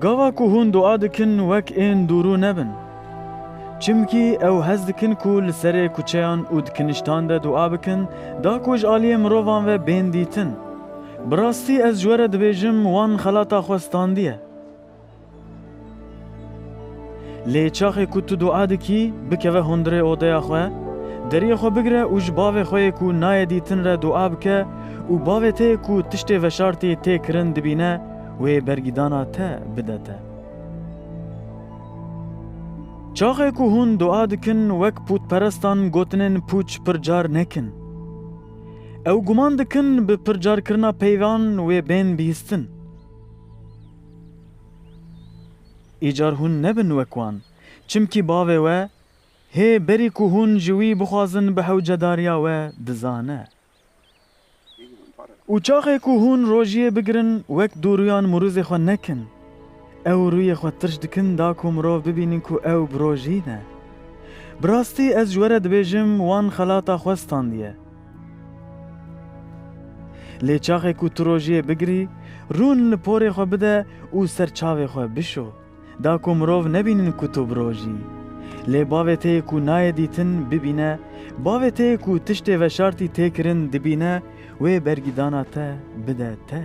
Gava ku hûn dua dikin wek ên dûrû nebin. Çimkî ew hez dikin ku li serê kuçeyan û di kiniştan de dua bikin da ku ji aliyê mirovan ve bên dîtin. Bi rastî ez ji we re dibêjim wan xelata xwe standiye. Lê çaxê ku tu dua dikî, bikeve hundirê odeya xwe, deriyê xwe bigire û ji bavê xwe yê ku nayê dîtin re dua bike û bavê te yê ku tiştê veşartî tê kirin dibîne wê bergîdana te bide te. Çaxê ku hûn dua dikin wek pûtperestan gotinên pûç pir car nekin. Ew guman dikin bi pircarkirina peyvan wê bên bihîstin. Îcar hûn nebin wek wan. Çimkî bavê we hê berî ku hûn ji wî bixwazin bi hewcedariya we dizane. Û çaxê ku hûn rojiyê bigirin wek dûrûyan mûrûzê xwe nekin. Ew rûyê xwe tirş dikin da ku mirov bibînin ku ew bi rojî ne. Bi rastî ez ji we re dibêjim wan xelata xwe standiye. Lê çaxê ku tu rojiyê bigirî, rûn li porê xwe bide û ser çavê xwe bişo. Da ku mirov nebînin ku tu birojî. Lê bavê te yê ku nayê dîtin, bibîne, bavê te yê ku tiştê veşartî tê kirin dibîne, wê bergîdana te bide te.